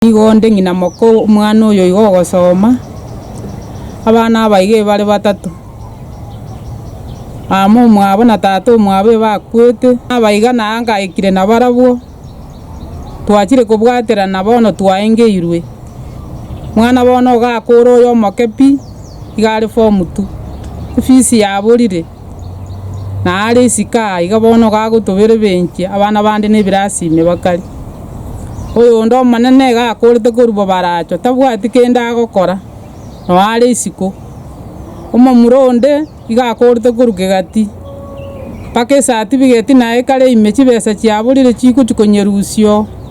Nigo onde ng'ina moka omwana oyo igo ogosoma, abana abaiga ebare batato, mama omwabo na tata omwabo ebakwete, abaiga na ngaikire nabarabwo, twachire kobwaterana bono twaengeirwe, mwana bono ogakora oyo omoke pi, iga are form two, efees yaborire. Na are isiko aa iga bono gagotoberebenchia abana bande na ebirasi ime bakari. Oyonde Omonene iga akorete korwa bobaracho, tabwati kende agokora, nao are isiko. Omomura onde iga akorete korwa kegati, mpaka esatibigeti naye kare ime chibesa chiaborire chigochi konyerusia oo.